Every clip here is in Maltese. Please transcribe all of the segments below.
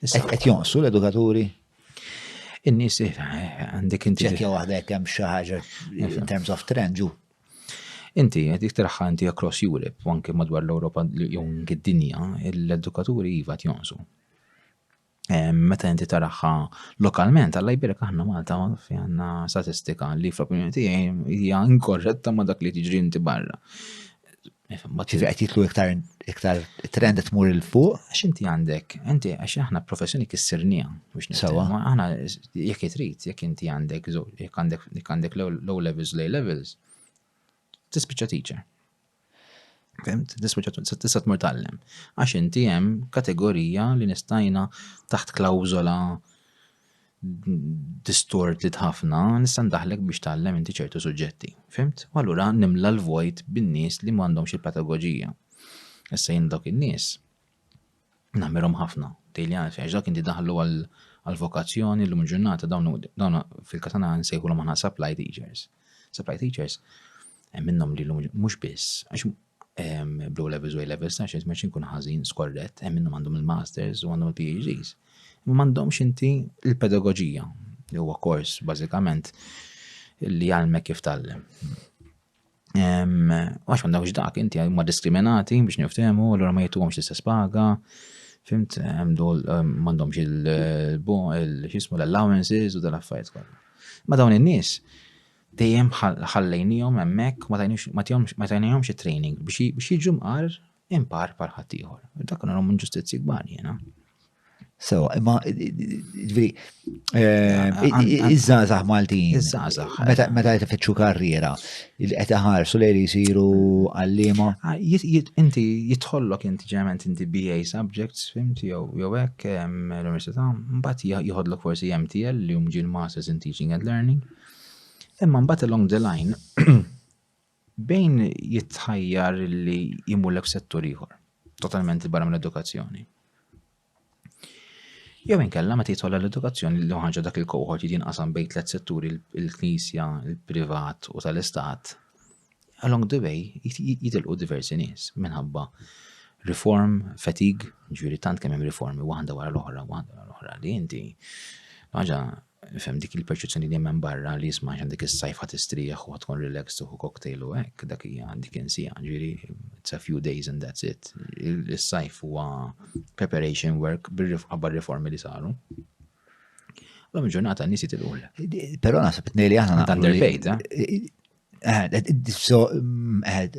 Qed jonqsu l-edukaturi? In-nies eh, għandek inti. Ċekja waħda jekk hemm xi ħaġa in terms of trend ġu. Inti qed iktarħa inti across Europe, u anke madwar l-Ewropa jew id-dinja, l-edukaturi iva jonqsu. Meta inti taraħħa lokalment, għalla jbirek aħna Malta fi għanna statistika li fl-opinjoni tiegħi hija inkorretta ma' dak li tiġri inti barra. Ġifi għet jitlu iktar iktar trend qed tmur il fuq. Għax inti għandek, inti għax aħna professjoni kissirnija biex nisawa. Aħna jekk jitrit, jekk inti għandek jekk għandek jekk għandek low levels, low levels, tispiċċa teacher. Fimt? Tispiċċa tista' tmur tallem. Għax inti hemm kategorija li nistajna taħt klawżola distorted ħafna, nista' ndaħlek biex tgħallem inti ċertu suġġetti. Fimt? U allura nimla l-vojt bin-nies li m'għandhomx il-pedagogija. Issa jien dawk in-nies nagħmilhom ħafna. Tejli għalfi, għax dak inti daħlu għal-vokazzjoni l-lum ġurnata dawn fil-katana nsejħu l-għana supply teachers. Supply teachers, hemm minnhom li l-lum mhux biss, għax bl levels u A-levels ta' xejn meċin kun ħażin skorret, hemm minnhom għandhom il-masters u għandhom il-PhDs. Imma m'għandhomx inti il-pedagogija li huwa kors bażikament li jgħalmek kif tallem. Għax għandhomx dak, inti ma diskriminati biex niftehmu, allura ma jituhomx l-istess paga, fimt, m'għandhomx il-xismu l-allowances u dal-affarijiet kollha. Ma dawn in-nies Dejjem ħallejniehom hemmhekk u ma tajnihomx it-training biex jiġu mqar impar bħal ħaddieħor. Dak nagħhom inġustizzji kbar jiena. So, imma, ġviri, eh, iż-żazax Maltin. Iż-żazax. Meta meta jtifittxu karriera, qed iħarsu lejn jisiru għallima. Ah, inti jitħollok inti ġeneralment inti BA subjects, fimti, jew jew hekk l-università, mbagħad jħodlok forsi MTL li hum ġil Masters in Teaching and Learning. Imma mbagħad along the line bejn jitħajjar li jimurlek settur ieħor, totalment barra mill-edukazzjoni. Jew inkella meta jitħolla l-edukazzjoni li ħaġa dak il-kohort jinqasam bejn tliet setturi il-knisja, il-privat u tal-istat, Along the way jitilqu diversi nies minħabba reform fatigue, ġifieri tant kemm hemm riformi waħda wara l-oħra, waħda wara l-oħra li inti ħaġa fem dik il-perċezzjoni li hemm barra li jisma' għax dik is-sajf ħadd istrieħ u tkun relaxed u cocktail u hekk dak hija dik insija ġieri it's a few days and that's it. Is-sajf huwa preparation work qabel riformi li saru. L-lum ġurnata n-nies jitilqu. Però naħseb tnej li aħna underpaid. Eh? So,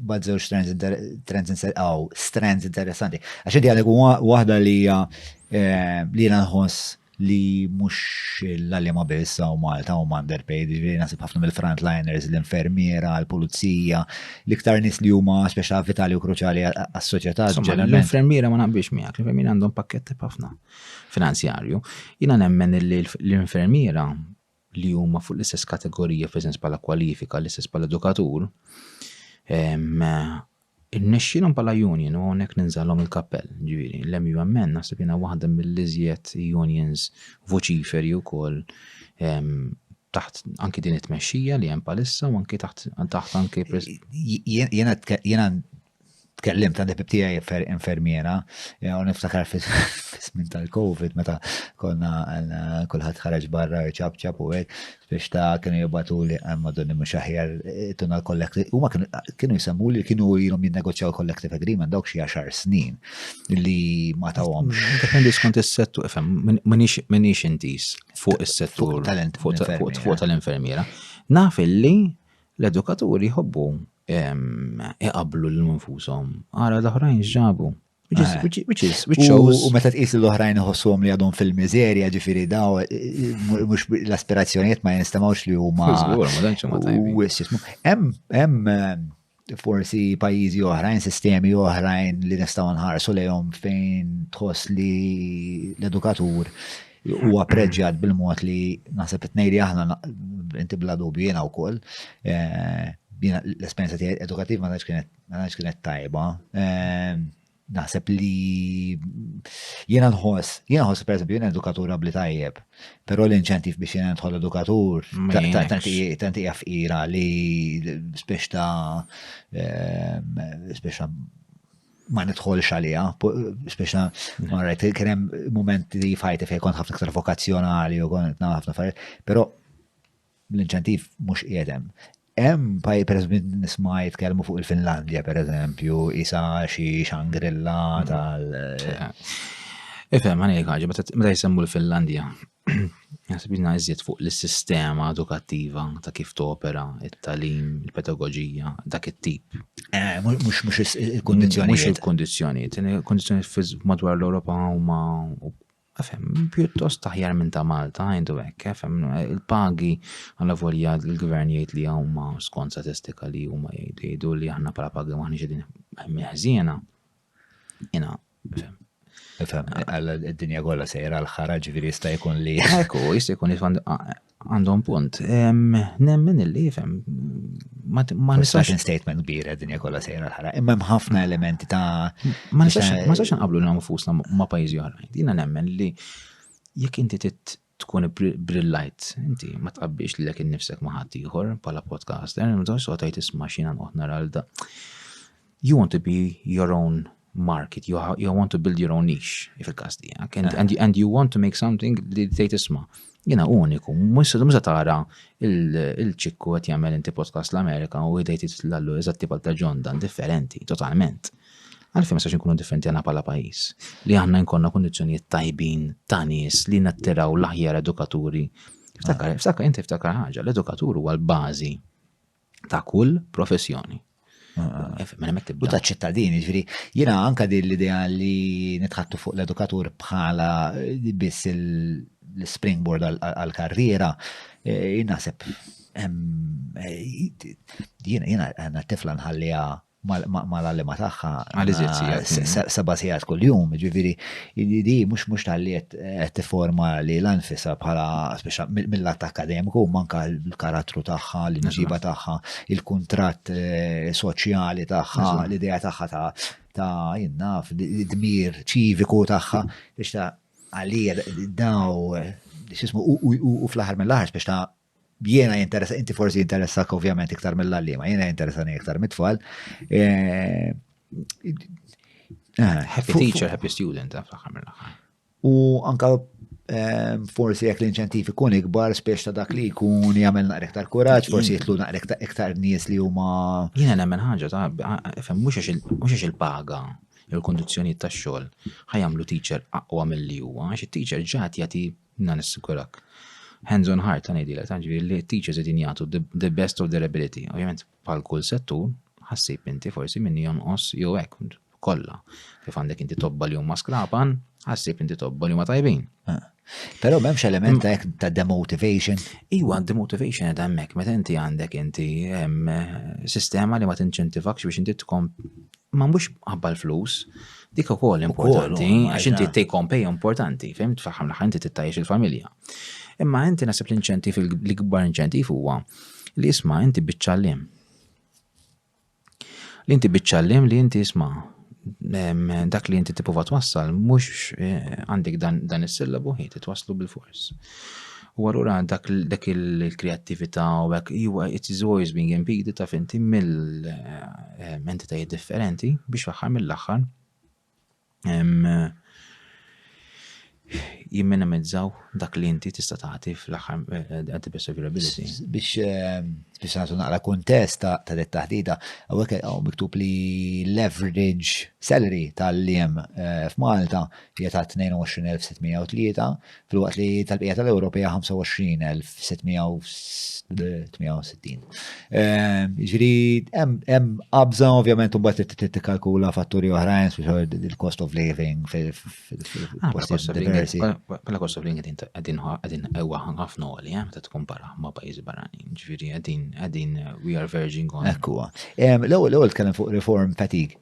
bad zewġ strands għaw, strands interessanti. Għaxin għalek wahda li hija eh, li jena nħoss li mux l-għalima biss għaw Malta u Mander Page, li nasib ħafna mill-frontliners, l-infermiera, l-pulizija, l-iktar nis li huma speċa vitali u kruċali għas-soċjetà. L-infermiera ma naqbix miegħek, l-infermiera għandhom pakketti ħafna finanzjarju. Jina nemmen li l-infermiera li huma fuq l-istess kategorija fl-istess bħala kwalifika, l-istess bħala edukatur, Innexxilhom bħala union u hawnhekk ninżalhom il-kappell, ġifieri l-MUMN naħseb jiena waħda mill-iżjed unions voċiferi wkoll taħt anki din it-tmexxija li hemm palissa u anki taħt taħt anki jiena tkellimt għandi bib tiegħi infermiera eh, u niftakar fis-żmien tal-COVID meta konna eh, kulħadd ħareġ barra ċab ċab u hekk biex ta' kienu jibatu li eh, madonni mhux aħjar tuna l-kollektiv. Huma kienu jisemmu li kienu ilhom jinnegozjaw collective agreement dawk xi għaxar snin li ma tawhomx. Mm, dependi skont is-settur, fem, minix intis fuq is-settur fuq tal-infermiera. Naf illi L-edukaturi jħobbu iqablu l nfushom ara l-oħrajn x'ġabu. Which is, eh. which, which is, which shows. U meta tqis l-oħrajn iħossuhom li għadhom fil-miżerja, ġifieri daw, eh, eh, mhux l-aspirazzjonijiet ma jinstemawx li huma. Hemm, hemm forsi pajjiżi oħrajn, sistemi oħrajn li nistgħu nħarsu lejhom fejn tħoss li l-edukatur Huwa appreġġjat bil-mod li naħseb qed ngħidli aħna inti bla dubju jiena wkoll. L-esperjenza tiegħi edukattiva ma tantx kienet tajba. Naħseb li jiena nħoss, jiena nħoss pereżempju jiena edukatur abli tajjeb, però l-inċentiv biex jiena nidħol edukatur tant hija fqira li spiex ta' spiex ma nidħolx għalija, speċna ma rajt, kien hemm momenti f'ħajti fejn kont ħafna iktar vokazzjonali u kont nagħmel ħafna affarijiet, però l-inċentiv mhux qiegħed hemm. Hemm pajjiż pereżempju nisma' jitkellmu fuq il-Finlandja pereżempju, isa xi xangrilla mm. tal. Ifhem għani ħaġa, meta jisemmu l-Finlandja, Jasbina iżjed fuq l-sistema edukattiva ta' kif topera, it-talim, il-pedagogija, dak it-tip. Eh, mux mux il-kondizjoni. Mux il-kondizjoni. Il-kondizjoni madwar l-Europa huma Għafem, pjuttost taħjar minn ta' Malta, għajdu għek, għafem, il-pagi għalla volja l-gvern jgħid li għawma skont statistika li huma jgħidu li aħna pala pagi maħni ġedin meħżjena. Jena, Fem, għalla d-dinja kolla sejra l-ħara ġviri jista' jkun li. Ekku, jista' jkun jifan għandhom punt. Nemmen illi jifem. Ma nistax. statement kbira d-dinja kolla sejra l-ħara. Imma ħafna elementi ta' ma nistax nqablu l-nfusna ma' pajjiżi oħrajn. Dina nemmen li jekk inti tkun ibbrillajt inti ma tqabbiex lilek innifsek ma' ħadd ieħor bħala podcaster, imma tgħidx soqgħod tgħid isma' x'jiena nqgħod nara l You want to be your own market, you, you want to build your own niche, fil-kas tijak, and, and, and you want to make something li tejt isma. Jena uniku, musa tara il-ċikku għet jgħamil inti podcast l-Amerika u għidajt l-allu eżatti pal ta' John Dan, differenti, totalment. Għalfejn ma nistax inkunu differenti aħna bħala pajjiż li aħna nkollna kundizzjonijiet tajbin ta' nies li nattiraw l-aħjar edukaturi. Ftakar, ftakar, inti ftakar ħaġa, l-edukatur huwa l-bażi ta' kull professjoni. Mela u ta' ċittadini, ġviri, jina anka din l-idea li nitħattu fuq l-edukatur bħala eh, biss l-springboard għal-karriera, eh, jina sepp, eh, jina għanna tifla nħallija mal-għalliema tagħha. Għal iżjed sigħat. Mm. Seba' sigħat kuljum, ġifieri di mhux mhux tal qed tifforma li l-anfisa bħala mill-att akademiku manka l-karattru tagħha, l-inġiba tagħha, il-kuntratt eh, soċjali tagħha, l-idea tagħha ta' ta' jinnaf, dmir ċiviku tagħha biex ta' għalija daw, xismu, u fl-aħħar mill-aħħar biex ta' jiena jinteressa, inti forsi jinteressak ovvjament iktar mill-għallima, jiena jinteressani iktar mit-tfal. Eh, eh, happy teacher, happy student, eh, U anka forsi jekk l-inċentif ikun ikbar spiex ta' dak li jkun jagħmel naqra iktar kuraġġ, forsi jitlu naqra iktar nies li huma. Jiena nemmen ħaġa ta' fem mhux għax il-paga il-kondizzjonijiet tax-xogħol ħajamlu teacher aqwa mill-li huwa, għax it-teacher ġat jagħti Na nissikurak. Hands on heart, ta' ngħidilek, ta' ġifieri li teachers qegħdin jagħtu the best of their ability. Ovvjament, bħal kull settur, ħassib inti forsi minni jonqos jew hekk kollha. Kif għandek inti tobba li huma skrapan, ħassib inti tobba li huma tajbin. Ah. Però m'hemmx element ta' ta' demotivation. Iwa, demotivation qed hemmhekk meta inti għandek inti sistema li ma tinċentivakx biex inti tkom Ma mhux ħabba l-flus, dik ukoll importanti, għax inti take home pay importanti, fim tfaħħam l-aħħar inti tittajjex il-familja. Imma inti nasib l-inċentiv l-ikbar inċentiv huwa li isma' inti biċċallim. Li inti biċċallim li inti isma' dak li inti tipprova twassal mhux eh, għandek dan is-sillabu ħi titwasslu bil-fors. U allura dak dak il-kreattività u hekk huwa it is always being impeded ta' finti mill-entitajiet differenti biex fl-aħħar mill-aħħar jimminimizzaw dak li inti tista' tagħti fl-aħħar eh, at the best of your ability. Biex eh, biex nagħtu naqra kuntest ta' ta' dit taħdita, hawnhekk hawn miktub li l-average salary tal-liem eh, f'Malta hija ta' 22,603, filwaqt li tal-bqija tal-Ewropa hija 25,668. Ġri, hemm qabża ovvjament imbagħad li tikkalkula fatturi oħrajn il-cost of living fil-postijiet ah, diversi. Bħala cost of living qegħdin qegħdin ewwa ħafna għoli, eh, meta tkompara ma' pajjiżi barranin. Ġifieri qegħdin qegħdin we are verging on. Ekkuwa. L-ewwel tkellem fuq reform fatigue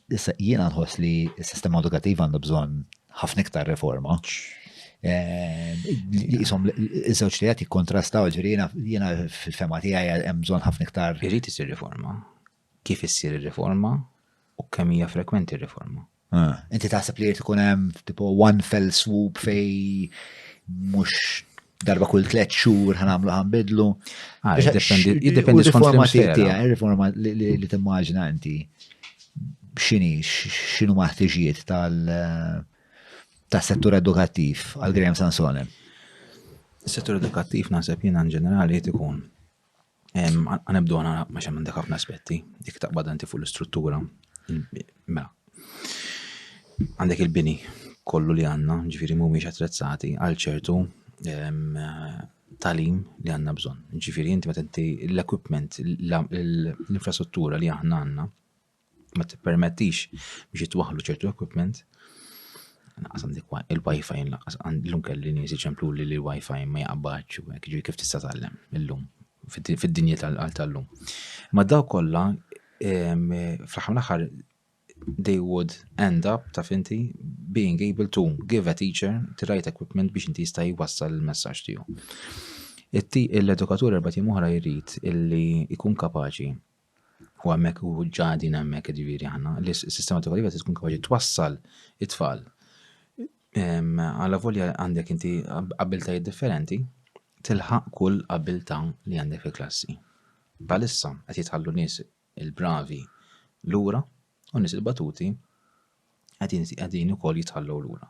Issa jiena nħoss li s-sistema edukattiva għandha bżonn ħafna iktar reforma. Jisom, iż-żewġ li għati kontrastaw ġirina, jena fil-fema tijaj jemżon ħafna iktar. Irrit isir riforma. Kif issir riforma u kemm hija frekwenti riforma. Ah, inti taħseb li jirti kunem tipo one fell swoop fej mux darba kull tliet xhur ħanamlu ħanbidlu. Ah, jiddependi skont il-formazzjoni tiegħi, riforma li timmaġina inti x'inhi x'inhu maħtiġijiet tal tas-settur edukattiv għal Graham Sansone. Is-settur edukattiv naħseb jiena in ġenerali jrid ikun Għanibdu għana ma xem għandek ħafna aspetti, dik taqbad għanti fuq l-istruttura. Mela, għandek il-bini kollu li għanna, ġifiri mu miex attrezzati għal ċertu talim li għanna bżon. Ġifiri, inti ma inti l-equipment, l-infrastruttura li għanna għanna, ma tippermettix biex jitwaħlu ċertu equipment. Naqas għandik il-wifi naqas l-lum kelli nies iċemplu li l-wifi ma jaqbadx u hekk ġifieri kif tista' tgħallem illum fid-dinja tal-lum. Ma daw kollha fl-aħħar l-aħħar they would end up ta' finti being able to give a teacher the right equipment biex inti jista' jwassal il-messaġġ tiegħu. L-edukatur erba' tim oħra jrid illi jkun kapaċi u hemmhekk u ġa qegħdin hemmhekk jiġifieri aħna, li s-sistema edukattiva se tkun kapaċi twassal it-tfal għala volja għandek inti abiltajiet differenti tilħaq kull abilta li għandek fil-klassi. Palissa qed jitħallu nies il-bravi lura U n-nies il-batuti qegħdin ukoll jitħallew lura.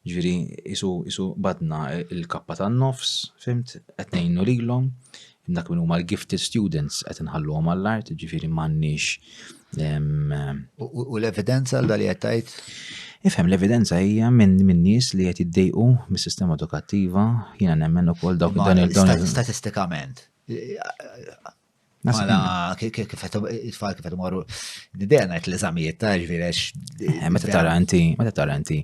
Ġifieri isu isu badna il-kappa tan-nofs, fimt, qed ngħinu lilhom, dak minn huma l-gifted students qed inħalluhom għall-art, ġifieri m'għandniex. U l-evidenza għal dali qed tgħid? Ifhem l-evidenza hija minn min nies li qed jiddejqu mis-sistema edukattiva, jiena nemmen ukoll dawk dan il-dawn. Statistikament, Mela, kif it-tfal kif morru, d-dejja najt l-eżamijiet ta' ġvirex. Eh, meta taranti, meta taranti,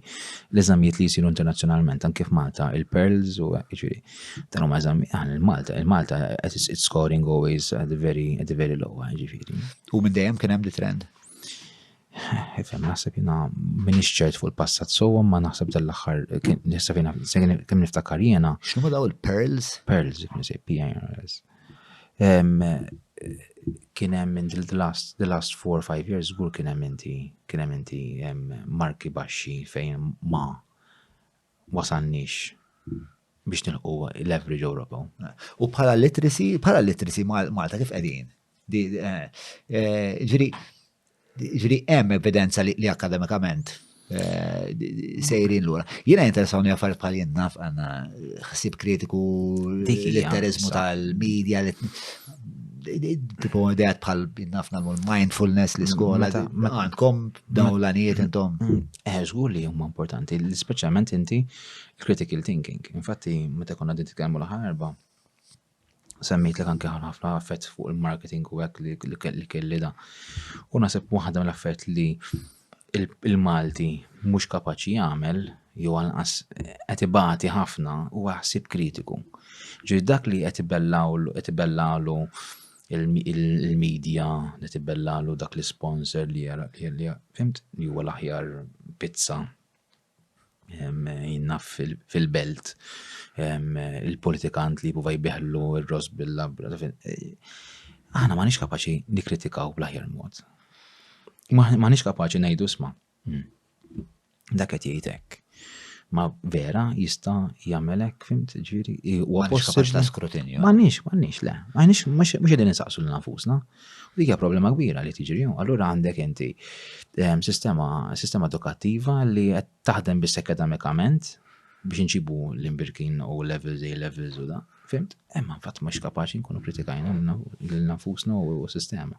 l-eżamijiet li jisiru internazzjonalment, anke f'Malta, il-Pearls u ġviri, dan huma eżami, ah, il-Malta, il-Malta, it's scoring always at the very, at the very low, eh, ġviri. U minn dejjem kien hemm di trend? Ifem, naħseb jina minix ċert fuq il-passat sowa, ma naħseb dal-axar, naħseb jina, kem niftakar jena. Xnu daw il-Pearls? Pearls, jikun se, P-I-R-S. Kien hemm in the last, the last four or five years żgur kien hemm inti kien hemm inti marki baxxi fejn ma wasalniex biex nilħu l-average Ewropew. U bħala literacy, bħala literacy Malta kif qegħdin? Eh, eh, ġiri, Ġifieri hemm evidenza li akademikament eh, sejrin lura. Jiena jinteressawni affarijiet bħal jien naf għandna ħsieb kritiku l-litterizmu tal-medja tipo ideat bħal nafna mindfulness li skola mm, għandkom dawn l-għanijiet intom. Mm, mm. Eh, żgur li huma importanti, speċjalment inti critical thinking. Infatti, meta konna din titkellmu l-ħarba, semmejtlek anke ħafna affett fuq il-marketing u hekk li kelli da. U naħseb waħda mill-affett li il-Malti mhux kapaċi jagħmel jew anqas qed ibati ħafna u ħsib kritiku. Ġi dak li qed ibellawlu qed ibellalu il-medja li tibellalu dak l-sponsor li jara li fimt li huwa l-aħjar pizza jinnaf fil-belt il-politikant li jipruva jbiħlu r-ross bil-labra. Aħna ma nix kapaċi nikritikaw bl-aħjar mod. Ma nix kapaċi najdu sma. Hmm. Dak qed jgħidek. Ma vera jista' jagħmelek fimt ġiri u possibbli ta' skrutinju. Ma nix, ma nix le. Ma nix mhux qegħdin insaqsu l nafusna. U dik hija problema kbira li tiġri. Allura għandek inti ehm, sistema, sistema edukattiva li qed taħdem biss akademikament biex inċibu l-imbirkin u levels A levels u da. Fimt? Emma fatt mhux kapaċi nkunu kritikajna l-nafusna u s-sistema.